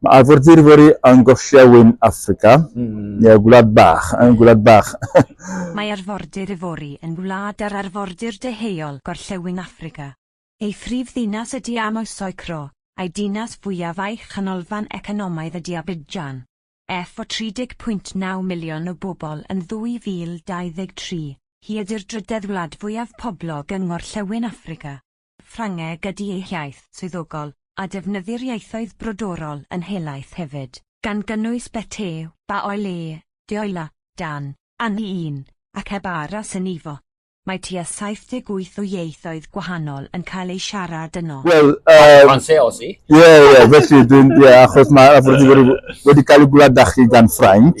Mae arfordirwyr yn gorllewin Affrica, neu Gwlad Bach, yn Gwlad Bach. Mae arfordir Ivory yn wlad ar arfordir deheuol gorllewin Affrica. Ei phrif ddinas ydy Yamoussoukro, a'i dinas fwyaf a'i chanolfan economaidd ydy Abidjan. Ef o 30.9 miliwn o bobl yn 2023, hi ydy'r drydedd wlad fwyaf poblog yng ngorllewin Affrica. Ffrangeg ydy ei hiaith swyddogol, a defnyddir ieithoedd brodorol yn helaeth hefyd, gan gynnwys bete, baoe le, dioela, dan, anni un, ac heb aros yn ifo. Mae tua 78 o ieithoedd gwahanol yn cael eu siarad yno. Wel, yym... Français aussi. Ie, ie, felly dwi'n, ie, achos mae wedi cael ei gwladdachu gan Ffrainc.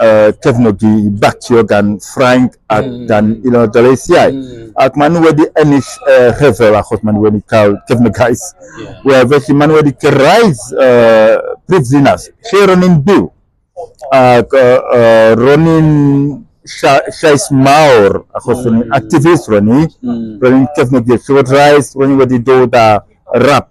uh, cefnogi i batio gan Ffrainc ac mm. gan un o'r daleithiau. Mm. Ac maen nhw wedi ennill uh, rhyfel achos maen nhw wedi cael cefnogaeth. Yeah. Wel, felly maen nhw wedi gyrraedd uh, prif ddinas lle ro'n i'n byw. Ac uh, uh, ro'n i'n llais mawr achos mm. ro'n i'n mm. activist ro'n i. Mm. Ro'n i'n cefnogi'r llywodraeth, ro'n i wedi dod â rap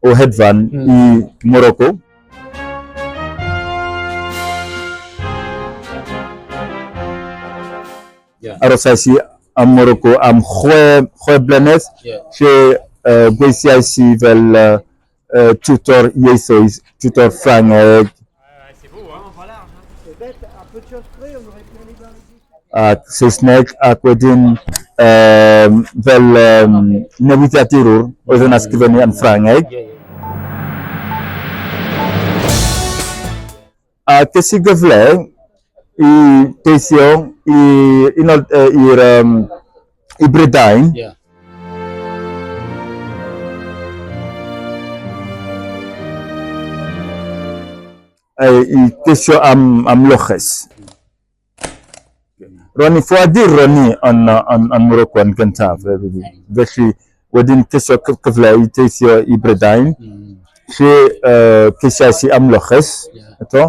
o hedfan i Morocco. Arosais i ym Morocco am chwe, chwe blynedd, lle uh, gweithiais i fel uh, tutor ieithoedd, tutor Ffrangeg, ac Saesneg ac wedyn um, fel um, newidiadurwr oedd yn ysgrifennu yn Ffrangeg. A ges i gyfle i deithio i'r um, i Brydain. Yeah. i gesio am, am loches. Ro'n i ffoadur ro'n i yn, yn, yn Morocco yn gyntaf. Felly, wedyn ceisio cyfle i teithio i Brydain, lle uh, ceisiais i amlyches, eto,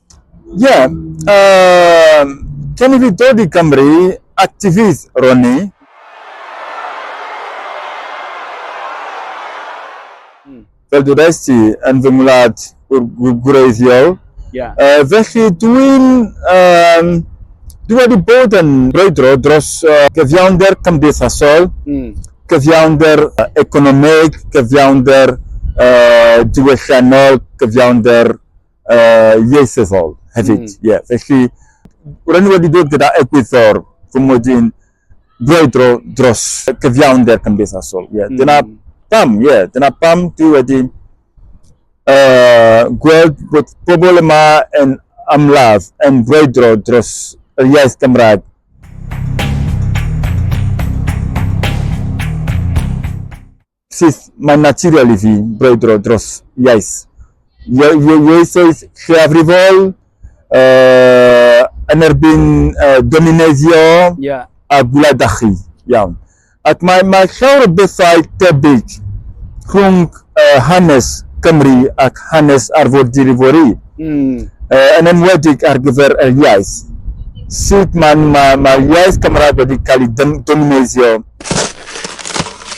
Ie, yym, cyn i fi dod i Gymru, actifydd ro'n i. Fel dwedais ti, yn fy ngwlad gwreiddiol. Ie. Yy, felly dwi'n, yym, dwi wedi bod yn brwydro dros gyfiawnder cymdeithasol, cyfiawnder economeg, cyfiawnder diwylliannol, cyfiawnder uh, ieithyddol hefyd. Mm. Yeah. Felly, rydyn ni wedi dod gyda egwyddor fy mod i'n brwydro dros cyfiawnder cymdeithasol. Yeah. Mm. Dyna pam, ie. Yeah. Dyna pam dwi wedi uh, gweld bod pobl yma yn amlaf yn brwydro dros yr iaith Gymraeg Sut mae'n naturiol i fi brwydro dros iaith, ieithoedd lleiafrifol, yn erbyn domineiddio a gwladachu iawn. Ac mae llawer o bethau tebyg rhwng hanes Cymru ac hanes arfordir Ivory, yn enwedig ar gyfer yr iaith. Sut mae'r iaith Cymraeg wedi cael ei domineiddio?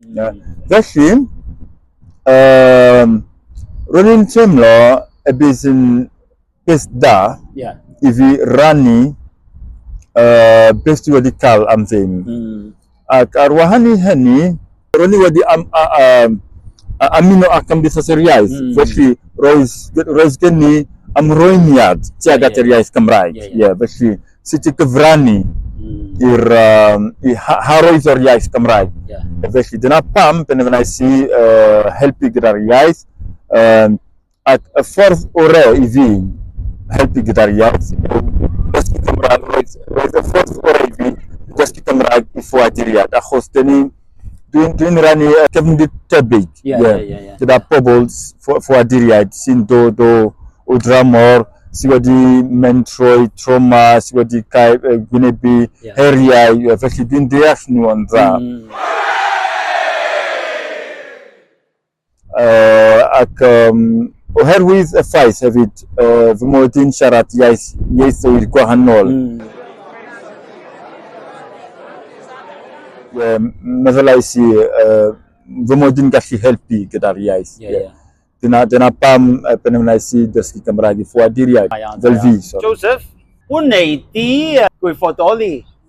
Na. Felly, um, roedd yn teimlo y bydd yn beth da yeah. i fi rannu uh, beth dwi wedi cael am ddim. Mm. Ac ar wahan i hynny, roedd ni wedi am, a, a, a, amino ac amddiffas yr iaith. Mm. Felly, roedd, roedd gen ni amrwymiad tuag at yr iaith Gymraeg. Yeah, yeah. Yeah, felly, sut i gyfrannu mm. i'r um, i haroedd o'r iaith Gymraeg. Yeah. Felly dyna pam benderfynais i uh, helpu gyda'r iaith um, ac y ffordd orau i fi helpu gyda'r iaith dysgu Cymraeg roedd, roedd y ffordd orau i fi dysgu Cymraeg i ffoaduriad achos dyn ni Dwi'n dwi rannu cefndir tebyg yeah, yeah. Yeah, yeah, gyda yeah. pobl ffoaduriaid sy'n dod o, o dramor sydd wedi mynd trwy trauma, sydd wedi cael uh, gwynebu yeah. heriau, yeah, felly dwi'n deall nhw o'n dda. Mm. Yy, ac yym, oherwydd y ffaith hefyd, yy, fy mod i'n siarad iaith, ieithoedd gwahanol. Mm. Ie, meddylais i, yy, fy mod i'n gallu helpu gyda'r iaith. Ie, ie. Dyna, dyna pam y penwnes i dysgu Cymraeg i ffoaduriaid, fel fi, sori. Joseph, wnei di gwirfoddoli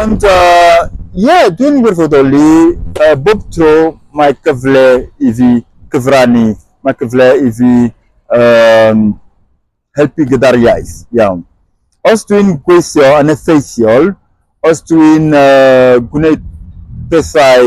Ond ie, dwi'n wirfoddoli, bob tro mae cyfle i fi gyfrannu, mae cyfle i fi helpu gyda'r iaith, iawn. Os dwi'n gweithio yn effeithiol, os dwi'n gwneud pethau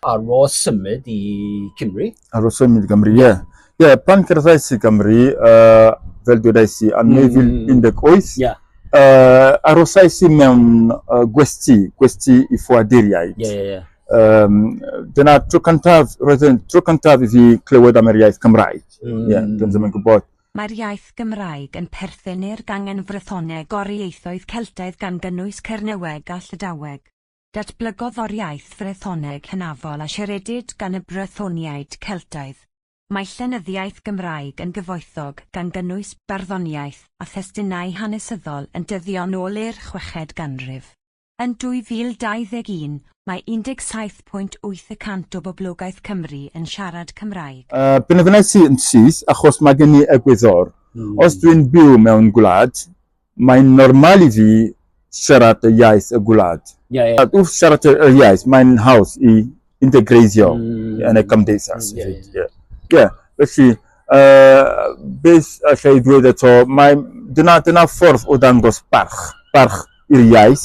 Ar ôl symud i Cymru? Ar ôl symud i Gymru, ie. Ie, yeah, pan cerddais i Gymru, uh, fel dwedais i, yn 2018, yeah. uh, arosais i mewn uh, gwesti, gwesti i ffoaduriaid. Yeah, yeah, yeah. Um, dyna tro cyntaf, roedd yn tro cyntaf i fi clywed am yr iaith Cymraeg. Mm. Yeah, dyn ddim yn gwybod. Mae'r iaith Gymraeg yn perthyn i'r gangen frythoneg o'r ieithoedd Celtaidd gan gynnwys Cernyweg a Llydaweg. Datblygodd o'r iaith Frethoneg hynafol a siaredid gan y Brythoniaid Celtaidd. Mae llenyddiaeth Gymraeg yn gyfoethog, gan gynnwys barddoniaeth a thestunau hanesyddol yn dyddio'n ôl i'r chweched ganrif. Yn 2021, mae 17.8 y cant o boblogaeth Cymru yn siarad Cymraeg. Penderfynais i yn syth achos mae gen i egwyddor. Os dwi'n byw mewn gwlad, Mae'n normal i fi siarad y iaith y gwlad. Ie, ie. Ac wrth siarad y y iaith, mae'n hawdd i integreiddio yn y cymdeithas. Ie, ie. Ie. Ie. Felly, yy, beth alla i ddweud eto, mae... Dyna, dyna ffordd o ddangos barch, barch i'r iaith.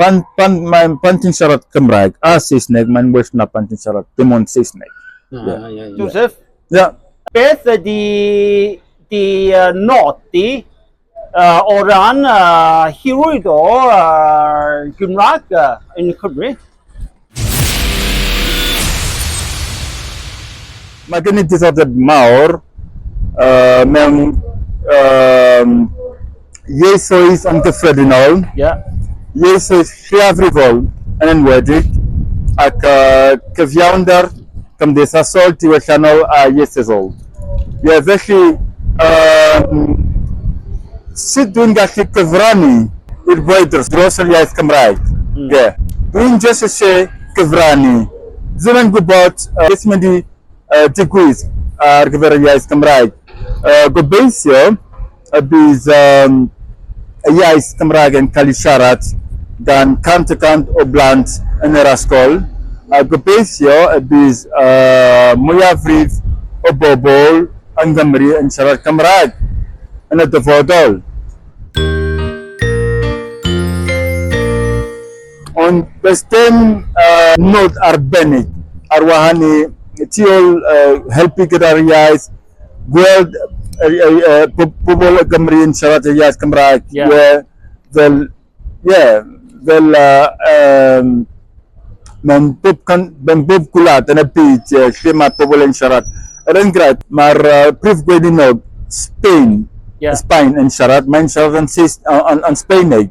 Pan, pan, mae, pan ti'n siarad Cymraeg a Saesneg, mae'n well na pan ti'n siarad dim ond Saesneg. Ah, yeah. yeah, yeah. Joseph? Yeah. Beth ydy di uh, nodi uh, o ran uh, hyrwyd o uh, Gymraeg uh, yn Cymru? Mae gen i diddordeb mawr mewn ieithoedd yn gyffredinol, ieithoedd lleiafrifol yn enwedig, ac cyfiawnder cymdeithasol, diwylliannol a ieithyddol. Ie, felly, yym, sut dwi'n gallu cyfrannu i'r gwydr dros yr iaith Gymraeg? Ie, dwi'n jyst isie cyfrannu. Dwi'm yn gwybod yy beth sy'n mynd i yy digwydd ar gyfer yr iaith Gymraeg. Yy gobeithio y bydd y iaith Gymraeg yn cael ei siarad gan cant y cant o blant yn yr ysgol, a gobeithio y bydd y mwyafrif o bobl yng Nghymru yn siarad Cymraeg yn y dyfodol. Ond does dim nod arbennig ar wahân i tu ôl helpu gyda'r iaith, gweld pobl o Gymru yn siarad y iaith Gymraeg fel mewn bob gwlad yn y byd lle mae pobl yn siarad. Er enghraifft, mae'r Prif Gweininog Sbaen yn siarad, mae'n siarad yn Sbaeneg.